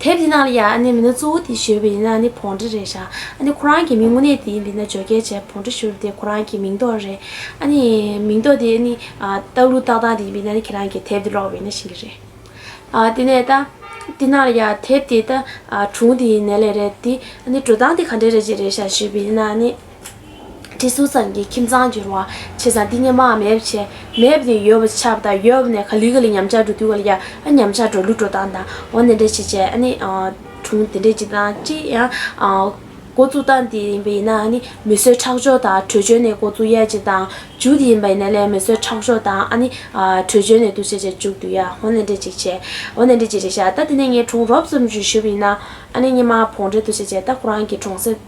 དེབ་དེ་ནང་ལ་ཡང་ཨ་ནེ་མིན་ན་གཙོ་བོ་དེ་བཞུར་བ་ཡིན་ན་ཨ་ནེ་བོང་འདྲེ་རེད་ཤག་ཨ་ནེ་ཁོ་རང་གི་མིང་དངོས་གནས་དེ་ཡིན་པས་ན་བརྗོད་སྐད་བྱས་བོང་འདྲེ་བཞུར་བ་དེ་ཁོ་རང་གི་མིང་འདོགས་རེད་ཨ་ནེ། མིང་འདོགས་དེ་ཨ་ནེ། སྟག་ལུ་སྟག་ཐང་དེ་ཡིན་པས་ན་ཨ་ནེ་ཁྱེད་རང་གི་དེབ་དེ་ཀློག་བས་ན་ཤེས་ཀྱི་རེད། དེ་ནས་ད། དེ་ནང་ལ་ཡང་དེབ་དེ་ད། གྲུང་དེ་ནས་ལས་རེད་དེ་ཨ་ནེ་འགྲོ་སྟངས་དེ་ག་འདྲས་རེད་ཅེས་རེད་ཤག་བཞུར་བ་ཡིན་ན་ཨ་ནེ། གྲི་ཟུར་ཙམ་གྱི་ཁྱིམ་ཚང་བསྒྱུར་བ། བྱས་ཙང་འདི་སྙེ་མའམ་མེད་བྱས། མེད་ནས་ཡོད་བྱས་པ་དང་ཡོད་ནས་ག་ལི་ག་ལི་ཉམས་ཆག་འགྲོ་དུས་ག་ལི་ཡ་ཨ་ཉམས་ཆག་འགྲོ་ལུགས་འགྲོ་སྟངས་དང་འོ་ནས་འདྲེ་བྱས་བྱས་ཨ་ནི་གྲུང་དེ་འདྲས་ཅིག་དང་ཅི་ཡང་འགོ་བཙུགས་སྟངས་དེ་ཡིན་པ་ཡིན་ན་ཨ་ནི་མི་གསོད་ཁྲག་སྦྱོར་དང་བྲོས་བྱོལ་ནས་འགོ་བཙུགས་ཡས་ཅིག་དང་འཇུག་དེ་ཡིན་པ་ཡིན་ན་ལས་མི་གསོད་ཁྲག་སྦྱོར་དང་ཨ་ནི་བྲོས་བྱོལ་ནས་འདུག་བྱས་བྱས་འཇུག་དུས་ཡ་འོ་ནས་འདྲེ་ཅིག་བྱས་འོ་ནས་འདྲེ་ཅིག་རེད་བྱས་ད་དེ་ནས་ངའི་གྲུང་རོབ་ཙམ་བྱོས་ཞུས་པ་ཡིན་ན་ཨ་ནི་སྙེ་མ་བོང་འདྲེ་འདུག་བྱས་བྱས་ད་ཁོ་རང་གི་གྲུང་ཟེར།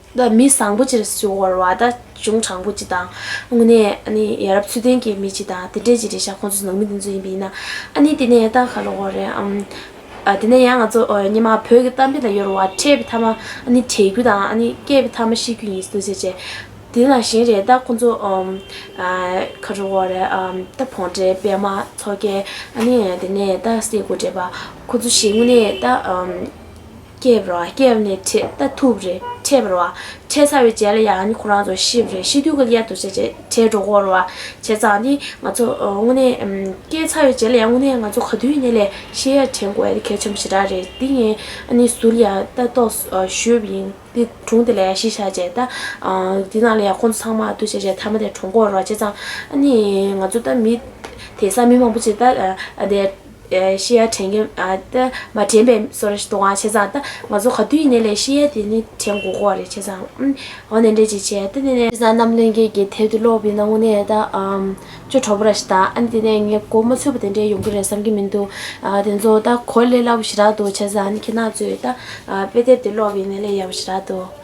བདག་མི་བཟང་པོ་ཅིག་བྱུང་བར་བ་ད་གཞུང་དྲང་པོ་ཅིག་དང། དངོས་གནས་ཨ་ནི་ཡ་རབས་ཚུལ་ལྡན་གྱི་མི་ཅིག་དང་དེ་འདྲས་ཅིག་རེད་ཤག་ཁོང་ཚོ་ནང་མི་དེ་ཚོ་ཡིན་པ་ཡིན་ན་ཨ་ནི་དེ་ནས་ད་ག་ལ་འོ་རེད་ཨང། དེ་ནས་ཡང་ང་ཚོ་ཉི་མ་བོད་ཀྱི་གཏམ་དཔེ་ལ་ཡོར་བ་འཕྲད་པའི་མཐའ་མ་ཨ་ནི་དྲན་རྒྱུ་དང་ཨ་ནི་སྐད་པའི་མཐའ་མ་ཤེས་རྒྱུ་ཡིན་སྲིད་དོ་ཅེ་ཅེ། དེ་ལ་གཞན་རེད་ད་ཁོང་ཚོ་ག་རེ་འོ་རེད་ཨང་ད་བོང་འདྲེ་པད་མ་མཚོ་རྒྱལ་ཨ་ནི་དེ་ནས་ད་སྲས་དགོད་འདྲེ་པ་ཁོང་ཚོ་ཞིག་དངོས་གནས་ད། སྐྱེས་པར་བ་སྐྱེས་པ་ནི་ཁྲི་ད་ཐུབ་རེད་ཁྲེས་པར་བ་ཁྲེས་ཚར་བའི་རྗེས་ལ་ཡང་ནི་ཁོ་རང་ཚོ་ཤིབ་རེད་ཤི་དུས་ཀྱི་གཡས་དུ་བྱས་རྗེས་ཁྲེས་འགྲོ་འགོར་བ་བྱས་ཙང་ནི་ང་ཚོ་དངོས་གནས། སྐྱེས་ཚར་བའི་རྗེས་ལ་ཡང་དངོས་གནས་ང་ཚོ་ག་དུས་ནས་ལས་ཤི་ཡར་དྲན་དགོས་ཡ་གལ་ཆེན་པོ་ཞེ་དྲག་རེད་འདི་ངས་ནི་ཟུར་ཡང་ལྟ་རྟོག་ཞུས་པ་ཡིན་འདི་དྲུང་དེ་ལ་ཡང་ཤི་ཤག་བྱས་ད་འདི་ནང་ལ་ཡང་ཁོ་ཚོ་ཚང་མ་ཨ་ཐུག་བྱས་རྗེས་ཐ་མ་དེ་གྲོངས་འགོར་བ་བྱས་ཙང་ནི་ང་ཚོ་ད་མི་དེ་སང་མི་མང་པོ་ཅིག་ད་དེ། ཤེས་ཡ་དྲན་གྱི་མ་དྲན་པའི་སོ་རེ་གཏོང་བ་བྱས་ཙང་ད་ང་ཚོ་ག་དུས་ཡིན་ནའི་ལས་ཤེས་ཡ་དེ་ནི་དྲན་དགོ་དགོ་བ་རེད་བྱས་ཙང་འོ་ནས་འདྲེ་ཅིག་བྱས་ཏེ་ནས། བྱས་ཙང་གནམ་ལོའི་རྒྱལ་གྱི་དལ་དུ་ལོག་པའི་སྣང་ངོ་ནས་ད་ཅོ་གྲོགས་པོ་ར་ཞིག་དང་ཨ་ནི་དེ་ནས་ངས་གོ་མ་ཚོད་པོ་དེ་འདྲས་ཡོང་གི་རེད་བསམ་གྱི་མི་འདུག་དེ་ཚོ་ད་གོ་ལས་སླ་པོ་ཞིག་རག་འདུག་བྱས་ཙང་ཨ་ནི་ཁྱེད་རྣམས་ཚོས་ད་དཔེ་དལ་དུ་ལོག་པའི་ནས་ལས་ཡག་པོ་ཞིག་རག་འདུག།